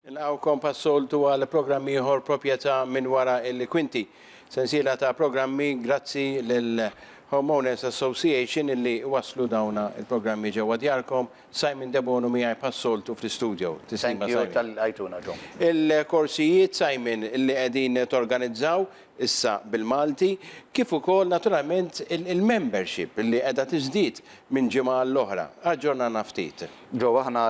Nilqgħukom pas-soltu għal programm ieħor Proprjetà minn wara l-kwinti. Sensiela ta' programmi grazzi lil Home Owners Association illi wasslu dawn il-programmi ġewwa djarkom. Simon Debono miegħi pas-soltu fl-istudio. Tislima Simon. Thank you talli lqajtuna ġo. Il-korsijiet Simon illi qegħdin torganizzaw issa bil-Malti kif ukoll naturalment il-membership illi qiegħda tiżdied minn ġimgħa għall-oħra. Aġġornana ftit. Joe, aħna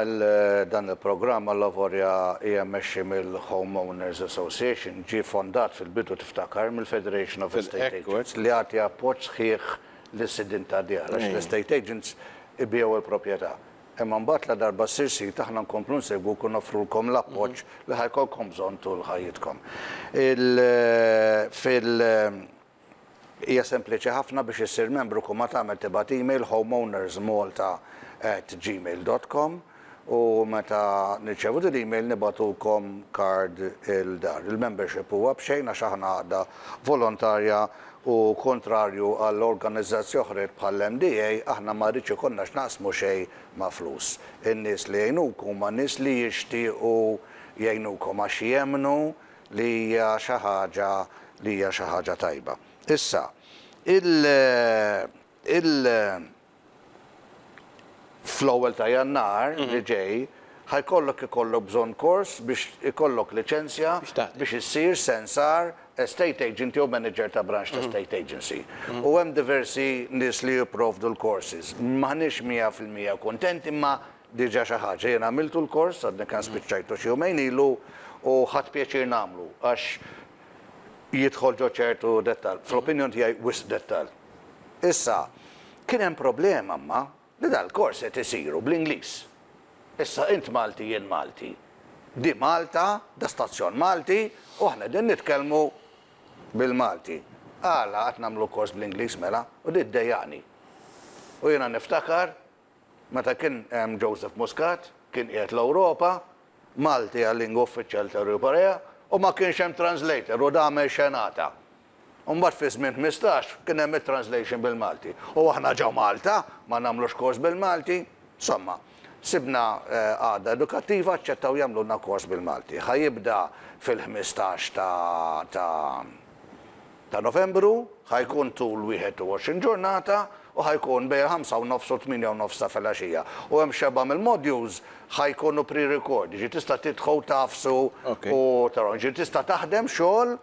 dan il-programm allavolja hija mmexxi mill-Home Owners Association, ġie fondat fil-bidu tiftakar mill-Federation of Estate Agents li jagħti appoġġ sħiħ lis-sidien tad-djar għax l-estate agents ibiegħu l-proprjetà. Imma mbagħad ladarba ssir sid aħna nkomplu nsegwuk u noffrulkom l-appoġġ li ħa jkollkom bżonn tul ħajjitkom. Il, fil, Hija sempliċi ħafna biex issir membru kull ma tagħmel tibgħat email homeownersmalta at gmail dot com u meta nirċevu din l-email nibgħatukom card il-dar. Il-membership huwa b'xejn għax aħna għaqda volontarja u kuntrarju għal organizzazji oħrajn bħall-MDA aħna ma rridx ikollna x'naqsmu xejn ma' flus. In-nies li jgħinuk huma nies li jixtiequ jgħinukom għax jemmnu li hija xi ħaġa li hija xi ħaġa tajba. Issa, il, il, fl-ewwel ta' Jannar li ġej ħa jkollok ikollok bżonn kors biex ikollok liċenzja biex issir sensar, estate agent jew manager ta' branch ta' state agency. U hemm diversi nies li jipprovdu l-courses. M'aħniex mija fil-mija kuntenti imma Diġà xi ħaġa. Jien għamiltu l-kors, għadni kemm spiċċajtu xi jumejn ilu, u ħadt pjaċir nagħmlu għax jidħol ġo ċertu dettall, fl-opinjoni tiegħi wisq dettall. Issa, kien hemm problema imma li dal-kors qed isiru bl-Ingliż. Issa int Malti jien Malti. Di Malta, da stazzjon Malti u aħna qegħdin nitkellmu bil-Malti. Għala qed nagħmlu kors bl-Ingliż mela? U di ddejjaqni. U jiena niftakar Meta kien hemm Joseph Muscat, kien qiegħed l-Ewropa, Malti għal lingwa uffiċjali tal-Korea, u ma kienx hemm translator u dame xenata. Mbagħad fi żmien ħmistax kien hemm it-translation bil-Malti. U aħna ġo Malta ma nagħmlux kors bil-Malti? Somma, sibna qagħda edukattiva aċċettaw jagħmlulna kors bil-Malti. Ħa jibda fil-ħmistax ta' ta' ta' Novembru, ħa jkun tul 21 ġurnata u ħa jkun bejn il-ħamsa u nofs u t-tmienja u nofs ta' filgħaxija. U hemm xebgħa mill-modules ħa jkunu pre-record, jiġifieri tista' tidħol tagħfsu u taraw. Jiġifieri tista' taħdem xogħol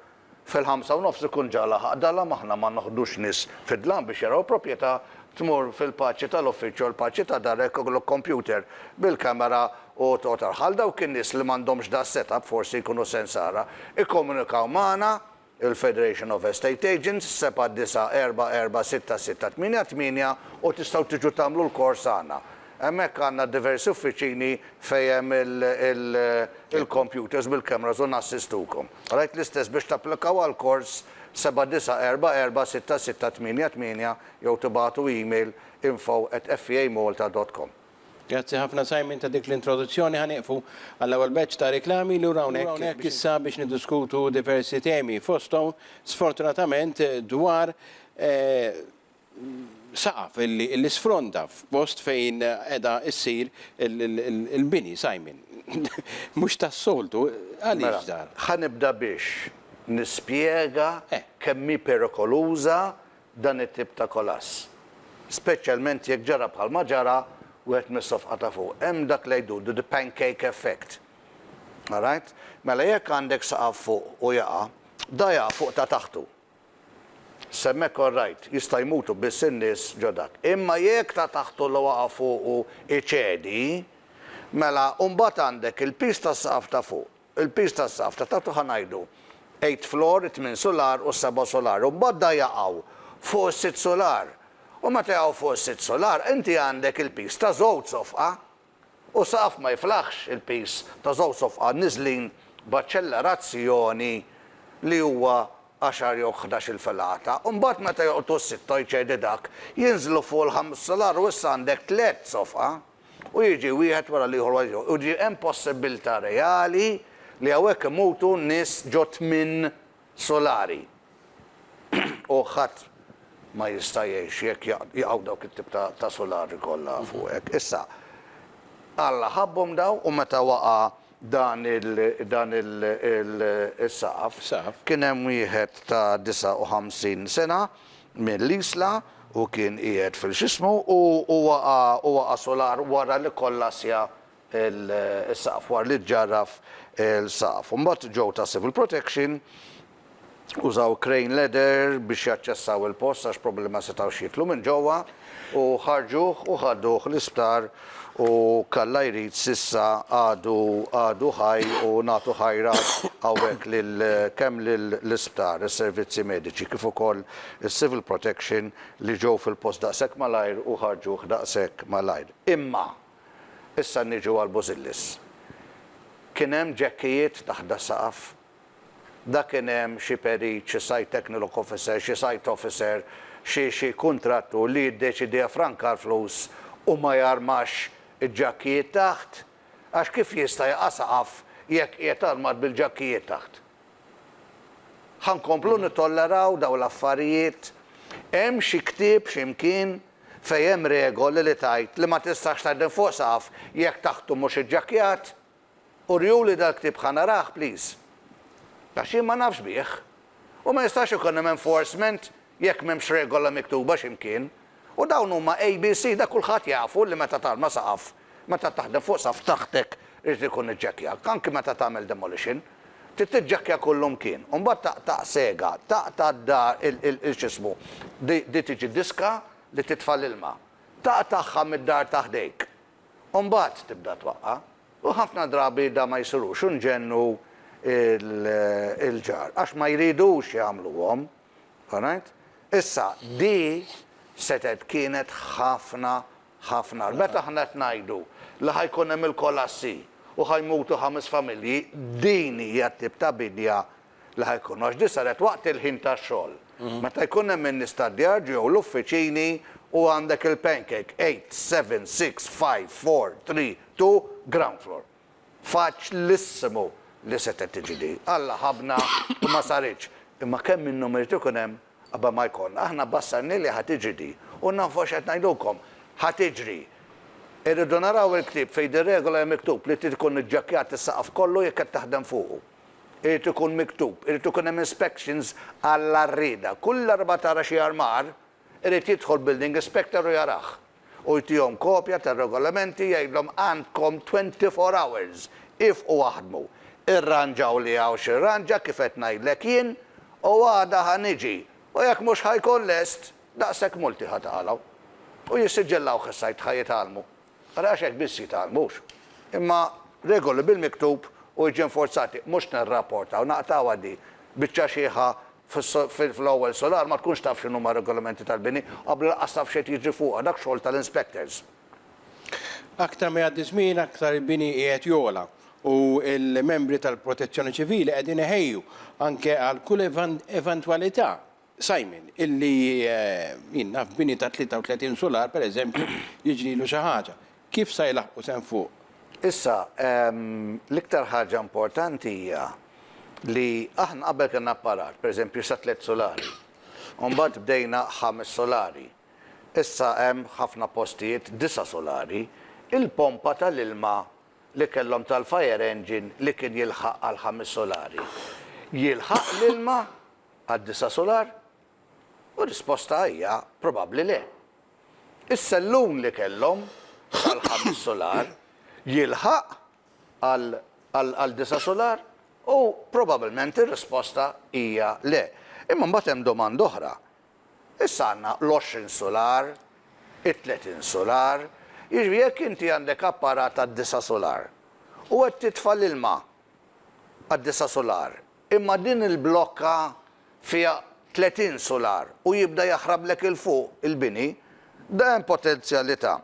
fil-ħamsa u nofs ikun ġa laħaq dhalam, aħna ma noħdux nies fid-dlam biex jaraw il-propjetà, tmur fil-paċi tal-uffiċċju u l-paċi ta' darek ikollok kompjuter bil-kamera u toqgħod taraw. Ħal dawk in-nies li m'għandhomx da' s-setup forsi jkunu sens ara, ikkomunikaw magħna Il-Federation of Estate Agents, 79446688, u tistgħu tiġu tagħmlu l-kors għandna. Hemmhekk għandna diversi uffiċini fejn hemm il-kompjuters bil-cameras u nassistukom. Rajt l-istess biex tapplikaw għall-kors, 79446688, jew tibagħtu email, info@feamalta.com. Grazzi ħafna Simon ta' dik l-introduzzjoni ħa nieqfu għall-ewwel batch ta' riklami li lura hawnhekk. Hawnhekk issa biex niddiskutu diversi temi fosthom sfortunatament dwar saqaf li sfronda f'post fejn qiegħda ssir il-bini Simon. Mhux tas-soltu, għaliex dan? Ħa nibda biex nispjega kemm hi perikoluża dan it-tip ta' kolass, speċjalment jekk ġara bħalma ġara wieħed mis-sofqa ta' fuq. Hemm dak li jdudu the pancake effect. Alright? Mela jekk għandek saqaf fuq u jaqa', da jaqa' fuq ta' taħtu. S'hemmhekk orrajt, jista' jmutu biss in-nies ġo dak. Imma jekk ta' taħtu li waqa' fuqu jċedi, mela mbagħad għandek il-piż tas-saqaf ta' fuq. Il-piż tas-saqaf ta' taħt hu ħa ngħidu eight floor, it-tmien sular u s-seba' sular, u mbagħad da jaqgħu fuq is-sitt sular. U meta jaqgħu fuq is-sitt sular, inti għandek il-piż ta' żewġ sofqa, u saqaf ma jiflaħx il-piż ta' żewġ sofqa niżlin b'aċċellerazzjoni li huwa għaxar jew ħdax-il filata. U mbagħad meta joqtu s-sitta, jċedi dak, jinżlu fuq il-ħames sular u issa għandek tliet sofqa. U jiġi wieħed wara l-ieħor wara l-ieħor. U ġie hemm possibbiltà reali li hawnhekk imutu nies ġo tmien sulari. U ħadd ma jista' jgħix jekk jaqgħu dawk it-tip ta' sulari kollha fuqek. Issa, Alla ħabbhom dawn u meta waqa' dan is-saqaf. Kien hemm wieħed ta' 59 sena mill-Isla u kien qiegħed fil-x'ismu u waqa' sular wara li kkollasja s-saqaf, wara li ġġarraf il-saqaf. Imbagħad ġew ta' Civil Protection użaw crane ladder biex jaċċessaw il-post għax probabbli ma setgħux jidħlu minn ġewwa u ħarġuh u ħaduh l-isptar u k'Alla jrid s'issa għadu għadu ħaj u nagħtu ħajra hawnhekk lil kemm l-isptar, is-servizzi mediċi kif ukoll is-civil protection li ġew fil-post daqshekk malajr u ħarġuh daqshekk malajr. Imma issa niġu għal Bużillis. Kien hemm ġekkijiet taħt das-saqaf Dak inhemm xi perit, xi site techniloc officer, xi site officer, xi xi kuntrattur li jiddeċidi jaffranka l-flus u ma jarmax il-ġakkijiet taħt, għax kif jista' jaqa' saqaf jekk qiegħed armat bil-ġakkijiet taħt? Ħa nkomplu nittolleraw dawn l-affarijiet? Hemm xi ktieb xi mkien fejn hemm regoli li tgħid li ma tistax tgħaddi fuq saqaf jekk taħtu mhux iġġakkjat? Uriuli dal-ktieb ħa narah please. Għax jien ma nafx bih. U ma jistax ikun hemm enforcement jekk m'hemmx regola miktuba xi mkien. U dawn huma ABC da kulħadd jafu li meta tarma saqaf, meta taħdem fuq saqaf taħtek irid ikun iġġekkjak, anki meta tagħmel demolition. Trid tiġġekkja kullu mkien. U mbagħad taqta' sega, taqta' d-dar il x'ismu, di tiġi diska li titfa' l-ilma. Taqtagħha mid-dar ta' ħdejk. u mbagħad tibda twaqqa', u ħafna drabi da ma jsirux u nġennu l-ġar għax ma jridux jagħmluhom. Alright? Issa, di setgħet kienet ħafna, ħafna. Meta aħna qed ngħidu li ħa jkun hemm il-kolassi u ħa jmutu ħames familji, din hija t-tip ta' bidja li ħa jkunu, għax din saret waqt il-ħin tax-xogħol. Meta jkun hemm in-nistadjaġġ jew l-uffiċini u għandek il-pancake eight, seven, six, five, four, three, two, ground floor. Faċlissimu li setgħet tiġi di. Alla ħabna u ma saritx. Imma kemm min numru jrid ikun hemm qabel ma jkollna. Aħna bbassarni li ħa tiġi di. U nafu x'qed ngħidulkom. Ħa tiġri. Irridu naraw il-ktieb fejn din regola hemm miktub li trid ikun iġġakkjat is-saqaf kollu jekk qed taħdem fuqu. Irid ikun miktub, irid ikun hemm inspections għall-għarrieda. Kull darba tara xi armar, irid jidħol building inspector u jarah. U jtihom kopja tar-regolamenti, jgħidlhom għandkom twenty four hours, iefqu aħdmu. Irranġaw li hawn x'irranġa kif qed ngħidlek jien, u għada ħa niġi, u jekk mhux ħa jkun lest, daqshekk multi ħa tagħlaw. U jissiġillawh is-sajd ħa jitgħallmu. Ara għax hekk biss jitgħallmux. Imma regoli bil-miktub u jiġi inforzati, mhux nirrapportaw, naqtgħuha di. Biċċa xiħa fl-ewwel sular ma tkunx taf x'inhuma r-regolamenti tal-bini, qablu lanqas taf x'qed jiġri fuqha, dak xogħol tal-inspectors. Aktar ma jgħaddi ż-żmien aktar il-bini qiegħed jogħla u l-membri tal-Protezzjoni Ċivili qegħdin iħejju anke għal kull eventwalità. Simon, illi, jien naf bini ta' 33 sular, per eżempju, jiġrilu xi ħaġa. Kif sa jlaħqu s'hemm fuq? Issa, l-iktar ħaġa importanti hija li aħna qabel kellna apparat, per eżempju, sa tliet sulari. U mbagħad bdejna ħames sulari. Issa hemm f'ħafna postijiet disa' sulari. Il-pompa tal-ilma li kellhom tal-fire engine li kien jilħaq għall-ħames sulari, jilħaq l-ilma? għad-disa' sular? U r-risposta hija probabbli le. Is-sellun li kellhom tal-ħames sular jilħaq għal disa' sular? U probabbilment ir-risposta hija le. Imma mbagħad hemm domanda oħra. Issa għandna l-għoxrin sular, it-tletin sular, jiġifieri jekk inti għandek apparat għad-disa' sular u qed titfa' l-ilma għad-disa' sular, Imma din il-blokka fiha 30 sular u jibda jaħrablek 'il fuq il-bini, da hemm potenzjalità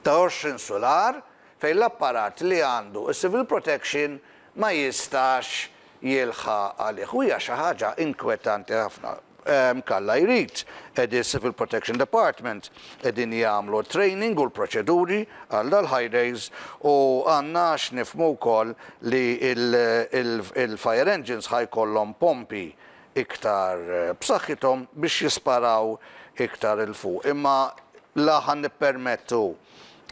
ta' 20 sular fejn l-apparat li għandu s-Civil Protection ma jistax jilħaq għalih u hija xi ħaġa inkwetanti ħafna. Jekk Alla jrid, qegħdin s-Civil Protection Department qegħdin jagħmlu t-training u l-proċeduri għal dal-High Days u għandna x'nifhmu wkoll li l-Fire Engines ħa jkollhom pompi iktar b'saħħithom biex jisparaw iktar 'il fuq. Imma la ħa nippermettu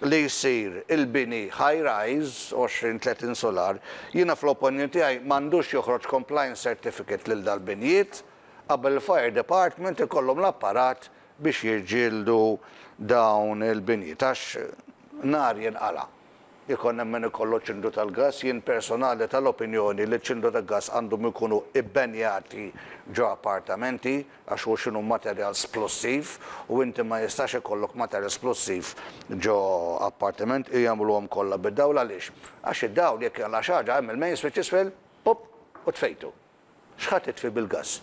li jsir il-bini High Rise, 20, 30 sular, jiena fl-opinjoni tiegħi m'għandux joħroġ Compliance Certificate lil dal-binjiet, qabel il-fire department ikollhom l-apparat biex jiġġieldu dawn il-binjiet għax nar jinqala' ikun hemm min ikollu ċindu tal-gass, jien personali tal-opinjoni li ċindu ta' gass għandhom ikunu bbenjati ġo appartamenti għax hu x'inhu materjal splussiv u inti ma jistax ikollok materjal splussiv ġo appartiment u jagħmluhom kollha bid-dawl għaliex għax id-dawl jekk jaqla' xi ħaġa hemm il-mains li t'isfel pupp u tfejtu. X'ħa titfi bil-gass?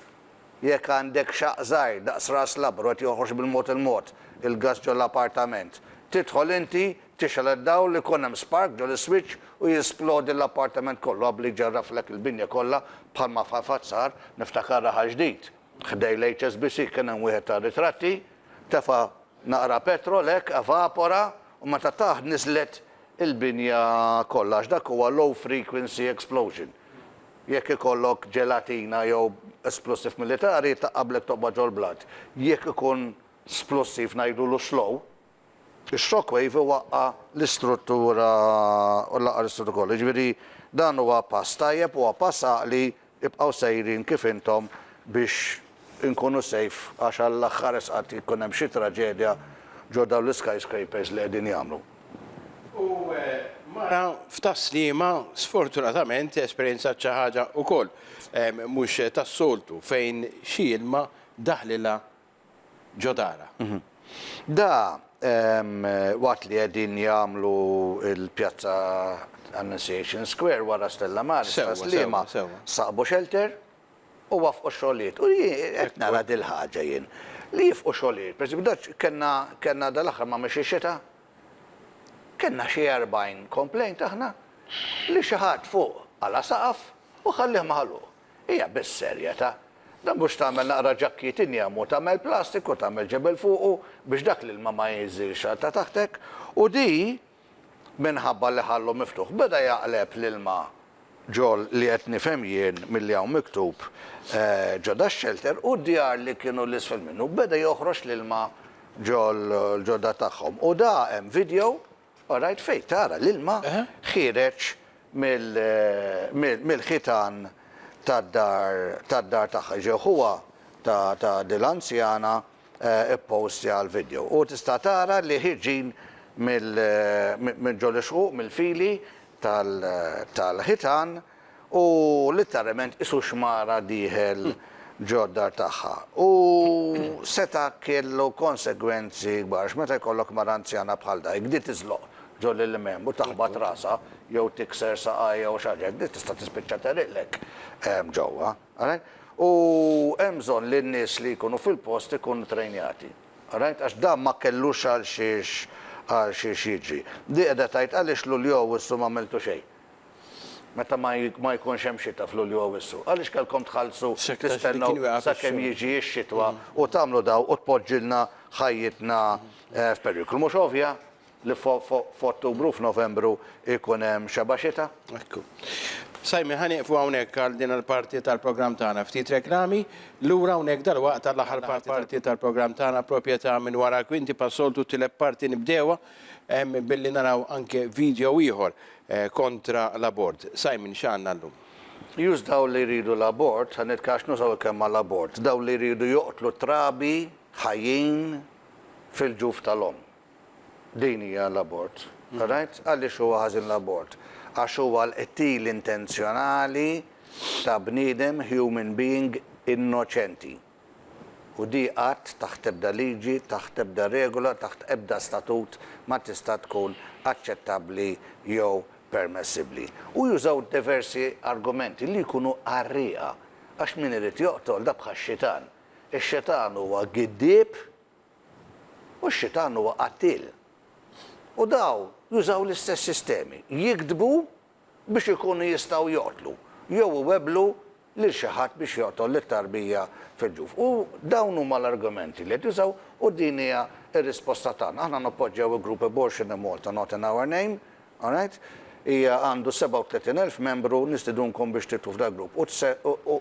Jekk għandek xaqq żgħir daqs ras labar u qed joħroġ bil-mod il-mod il-gass ġol-appartament, tidħol inti, tixgħel id-dawl, ikun hemm spark ġol-iswiċċ u jisplodi l-appartament kollu qabel jġarraflek il-binja kollha bħalma f'Ħafazzar, niftakar raħal ġdid ħdej l-HSBC kien hemm wieħed tar-ritratti, tefa' naqra petrol hekk, evapora u meta taħt niżlet il-binja kollha għax dak huwa low frequency explosion. Jekk ikollok ġelatina jew splussiv militari, ta' qablek toqbad ġol-blat. Jekk ikun splussiv ngħidulu slow, ix-shock wave iwaqqa' l-istruttura u jlaqqa' l-istruttu kollu. Jiġifieri dan huwa pass tajjeb, huwa pass għaqli, ibqgħu sejrin kif intom biex inkunu safe għax għall-aħħar esqat jkun hemm xi traġedja ġo dawn l-iskyscrapers li qegħdin jagħmlu. U mara f'taslima sfortunatament esperjenzat xi ħaġa wkoll mhux tas-soltu fejn xi ilma daħlilha ġo darha. Da waqt li qegħdin jagħmlu l-pjazza Annunciation Square wara Stella Maris ta' Sliema saqbu xelter u waffqu xogħlijiet. U jien qed nara dil-ħaġa jien, li jifqu xogħlijiet. Per eżempju, daċ kellna, kellna dal-aħħar ma mexiex xita, kellna xi erbgħin complaint aħna li xi ħadd fuq qala' saqaf u ħallieh magħluq. Hija bis-serjetà. Dan mhux tagħmel naqra ġakkiet injam u tagħmel plastik u tagħmel ġebel fuqu biex dak l-ilma ma jinżilx għal ta' taħtek u di, minħabba li ħallu miftuħ. Beda jaqleb l-ilma ġol li qed nifhem jien milli hawn miktub ġo dax-xelter u d-djar li kienu 'l isfel minnu. Beda joħroġ l-ilma ġol ġo dar tagħhom. U da hemm video, orajt, fejn tara l-ilma ħiereġ mill mill-ħitan tad-dar tad-dar tagħha. Ġew ħuha ta' ta' dil-anzjana Ippostja l-vidjow u tista' tara li ħirġin minn ġol-ixquq mill-fili tal-ħitan u litteralment qisu xmara dieħel ġod-dar tagħha. U seta' kellu konsegwenzi kbar x'meta jkollok mara anzjana bħal dayk di tiżloq ġol il-limem u taħbat rasha jew tikser saqajha jew xi ħaġa hekk di tista' tispiċċa tegħriqlek ġewwa. All right? U hemm bżonn li n-nies li jkunu fil-post ikunu trejnjati. All right? Għax dan ma kellux għal xiex għal xiex jiġri. Di qiegħda tgħid għaliex Lulju Awwissu m'għamiltu xejn. Meta ma ma jkunx hemm xita f'Lulju Awwissu. Għaliex kellkom tħallsu tistennew sakemm jiġi x-xitwa u tagħmlu daw u tpoġġilna ħajjitna f'periklu. Mhux ovvja? Li f'Ottubru u f'Novembru jkun hemm xebgħa xita? Ekku. Simon, ħa nieqfu hawnhekk għal din il-parti tal-programm tagħna. Ftit reklami, lura hawnhekk dalwaqt għall-aħħar parti tal-programm tagħna Proprjetà minn wara l-kwinti pas-soltu t-tielet parti nibdewha billi naraw anke video ieħor kontra l-abort. Simon, x'għandna llum? Jus dawk li jridu l-abort, ħa nitkellem għax nużaw il-kelma l-abort, dawk li jridu joqtlu t-trabi ħajjin fil-ġuf tal-omm. Din hija l-abort. Rajt? Għaliex huwa ħażin l-abort? Għax huwa l-qtil intenzjonali ta' bniedem, human being, innoċenti. U di qatt, taħt ebda liġi, taħt ebda regola, taħt ebda statut ma tista' tkun aċċettabbli jew permessibbli. U jużaw diversi argumenti li jkunu qarrieqa. Għax min irid joqtol dak bħax-xitan. Ix-xitan huwa giddieb. U x-xitan huwa qattiel. U dawn jużaw l-istess sistemi, jigdbu biex ikunu jistgħu joqtlu, jew iwebblu lil xi ħadd biex joqtol lit-tarbija fil-ġuf. U dawn huma l-argumenti li qed jużaw u din hija r-risposta tagħna. Aħna nappoġġjaw il-grupp Abortion in Malta not in our name, alright? Hija għandu 37,000 membru, nistidunkom biex tidħlu f'dal-grupp u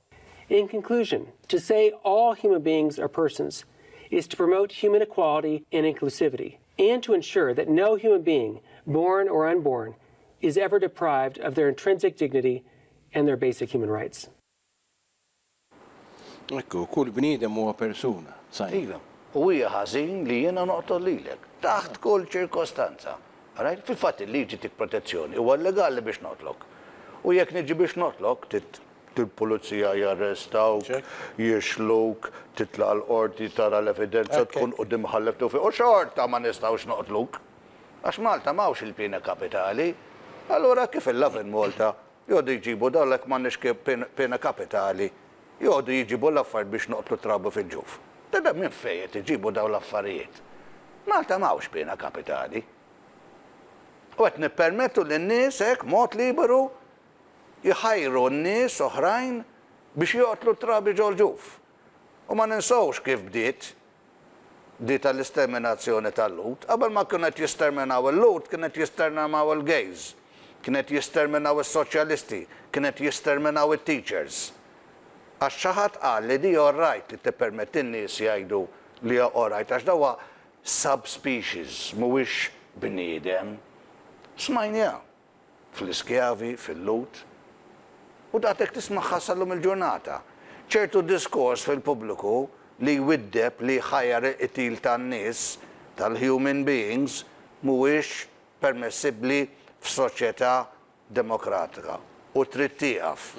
In conclusion, to say all human beings are persons is to promote human equality and inclusivity and to ensure that no human being, born or unborn, is ever deprived of their intrinsic dignity and their basic human rights. Hekk hu, kull bniedem huwa persuna. Sign. Iva, u hija ħażin li jiena noqtol lilek, taħt kull ċirkostanza. Għarajt? Fil-fatt il-liġi tik protezzjoni, huwa llegali biex noqtlok. U jekk niġi biex noqtlok, trid Il-pulizija jarrestawk, jixħluk, titlaq l-qorti tara l-evidenza tkun quddiem mħallef Tewfiq u xorta ma nistgħux noqtluk. Għax Malta m'hawnx il-piena kapitali. Allura kif il-Lovin Malta jgħodu jġibu dawn jekk m'għandniex piena kapitali jgħodu jġibu l-affarijiet biex noqtlu trabi fil-ġuf. Tibda minn fejn qed iġibu dawn l-affarijiet? Malta m'hawnx piena kapitali. U qed nippermettu lin-nies hekk mod liberu jħajru n-nies oħrajn biex joqtlu t-trabi ġol-ġuf. U ma ninsewx kif bdiet di tal-isterminazzjoni tal-Lhud. Qabel ma kienu qed jisterminaw il-Lhud, kienu qed jisterminaw il-gays, kienu qed jisterminaw is-soċjalisti, kienu qed jisterminaw it-teachers. Għax xi ħadd qal li di orrajt li tippermetti n-nies jgħidu li hija orrajt għax da huwa subspecies, mhuwiex bniedem. Smajniha. fl-iskjavi, fil-Lhud. U daqshekk tismagħha sal-lum il-ġurnata. Ċertu diskors fil-pubbliku li jwiddeb, li jħajjar il-qtil tan-nies, tal-human beings, mhuwiex permessibbli f'soċjetà demokratika u trid tieqaf.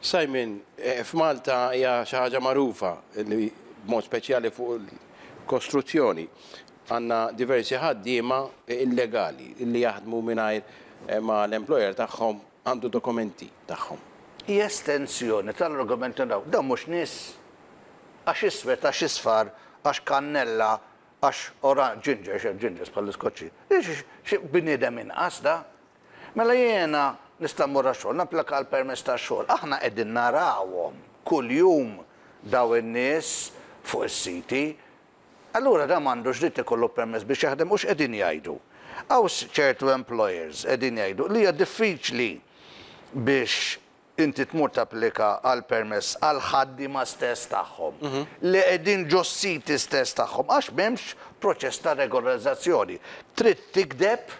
Simon, f'Malta hija xi ħaġa magħrufa li b'mod speċjali fuq il-kostruzzjoni. Għandna diversi ħaddiema illegali li jaħdmu mingħajr ma l-employer tagħhom għandu dokumenti tagħhom. Hi estensjoni tal-argument li dawn mhux nies. Għax iswed, għax isfar, għax kannella, għax oranġ, ginger, x'hemm gingers bħall-Iskoċċi? Xi bniedem inqas da? Mela jiena nista' mmur għax-xogħol, napplika għall-permess tax-xogħol. Aħna qegħdin narawhom kuljum dawn in-nies fuq is-siti Allura dan m'għandux dritt ikollu permess biex jaħdem u x'qegħdin jgħidu? Hawn ċertu employers qegħdin jgħidu li hija diffiċli biex inti tmur tapplika għal permess għal ħaddiema stess tagħhom li qegħdin ġos-siti stess tagħhom għax m'hemmx proċess ta' regolarizzazzjoni. Trid tigdeb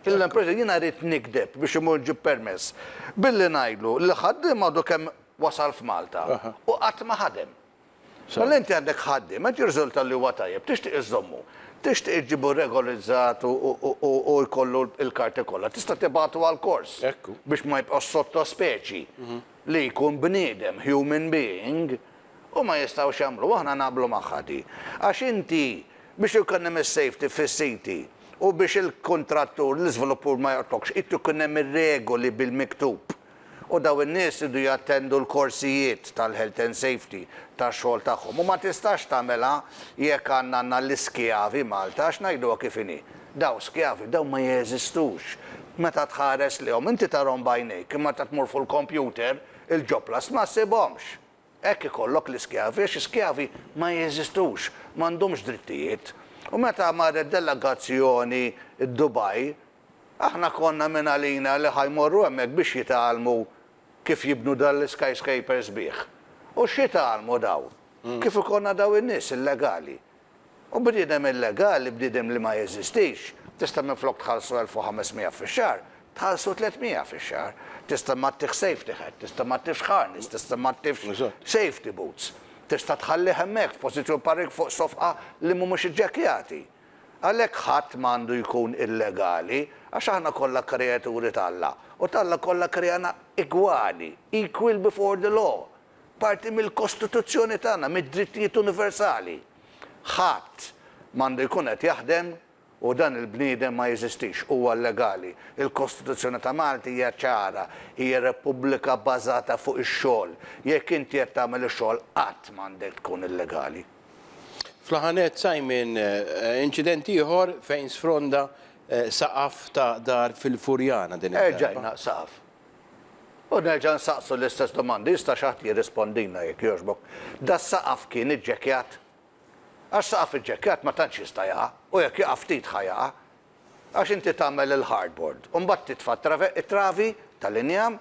lill-employer jiena rrid nigdeb biex immur nġib permess billi ngħidlu li l-ħaddiem għadu kemm wasal f'Malta u qatt ma ħadem. Mela inti għandek ħaddiem, qed jirriżulta li huwa tajjeb, tixtieq iżżommu, tixtieq iġġibu regolizzat u jkollu l-karti kollha, tista' tibgħatu għall-kors biex ma jibqgħux sottospeċi li jkun bniedem, human being, u ma jistgħux jagħmluha, aħna naqblu magħha di. Għax inti biex ikun hemm is-safety fis-siti u biex il-kuntrattur, l-iżviluppur ma joqtogħlx, irid ikun hemm ir-regoli bil-miktub. U dawn in-nies iridu jattendu l-korsijiet tal-health and safety tax-xogħol tagħhom. U ma tistax tagħmilha jekk għandna għandna l-iskjavi Malta għax ngħiduha kif inhi. Dawn skjavi, dawn ma jeżistux. Meta tħares lejhom, inti tarhom b'għajnejk imma meta tmur fuq il-kompjuter, il-ġoblas ma ssibhomx. Hekk ikollok l-iskjavi għax iskjavi ma jeżistux, m'għandhomx drittijiet. U meta marret delegazzjoni Dubai, Aħna konna mingħalina li ħa jmorru hemmhekk biex jitgħallmu kif jibnu dan l-skyscraper sbieħ. U x'jitgħallmu dawn? Kif ikollna dawn in-nies illegali? U bniedem illegali, bniedem li ma jeżistix, tista' minflok tħallsu elf u ħames miegħa fix-xahar, tħallsu tliet miegħa fix-xahar. Tista' ma ttiħx safety hat, tista' ma ttiħx harness, tista' ma ttiħx safety boots. Tista' tħallih hemmhekk f'pożizzjoni bħal dik fuq sofqa li mhumiex iġġekkjati. Għalhekk ħadd ma għandu jkun illegali, għax aħna kollha kreaturi t'Alla, u t'Alla kollha kreana igwali, equal before the law, parti mill-kostituzzjoni tagħna, mid-drittijiet universali. Ħadd m'għandu jkun qed jaħdem u dan il-bniedem ma jeżistix, huwa illegali. Il-Kostituzzjoni ta' Malta hija ċara, hija repubblika bażata fuq ix-xogħol. Jekk inti qed tagħmel ix-xogħol qatt m'għandek tkun illegali. Fl-aħħar nett, Simon, inċident ieħor fejn sfronda saqaf ta' dar fil-Furjana din id-darba. Erġa' jingħaq saqaf. U nerġa' nsaqsu l-istess domandi, jista' xi ħadd jirrispondilna jekk jogħġbok. Das-saqaf kien iġġekkjat? Għax saqaf iġġekkjat ma tantx jista' jaqa', u jekk jaqa' ftit ħa jaqa'. Għax inti tagħmel il-hardboard, u mbagħad titfa' it-travi tal-injam,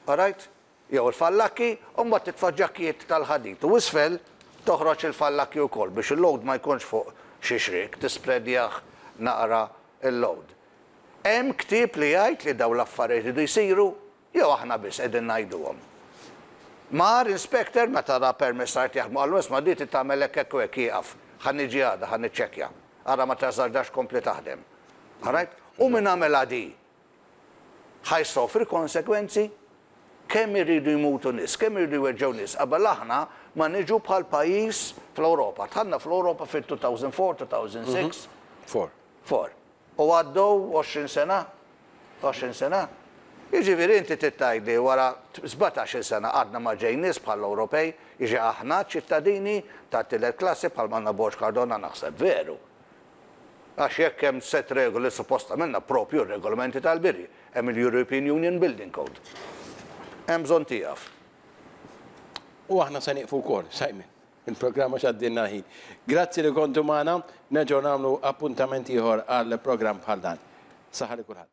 orajt? jew il-fallakki, u mbagħad titfa' ġakkijiet tal-ħadid u isfel toħroġ il-fallakki wkoll biex il-load ma jkunx fuq xi xriek, tispredjah naqra l-load. Hemm ktieb li jgħid li dawn l-affarijiet iridu jsiru jew aħna biss qegħdin ngħiduhom? Mar inspector meta ra permess art jaħdmu qallu isma' di trid tagħmel hekk hekk u hekk ieqaf, ħa niġi għada ħa niċċekkja, ara ma tażardax kompli taħdem. All right? U min għamilha di? ħa jsofri konsegwenzi? Kemm iridu jmutu nies, kemm iridu jweġġgħu nies qabel aħna ma niġu bħal pajjiż fl-Ewropa. Dħalna fl-Ewropa fit-2004, 2006. Four. Four. U għaddew għoxrin sena? Għoxrin sena? Jiġifieri inti trid tgħidli wara sbatax-il sena għadna ma ġej nies bħall-Ewropej, jiġi aħna ċittadini tat-tielet klassi bħalma għandna Borg Cardona naħseb veru. Għax jekk hemm sett regoli suppost għamilna proprju r-regolamenti tal-bini. Hemm il-European Union Building Code. Hemm bżonn tieqaf. U aħna se nieqfu wkoll, Simon. Il-programm għax għaddielna l-ħin. Grazzi li kontu magħna. Nerġgħu nagħmlu appuntament ieħor għal programm bħal dan. Saħħa lil kulħadd.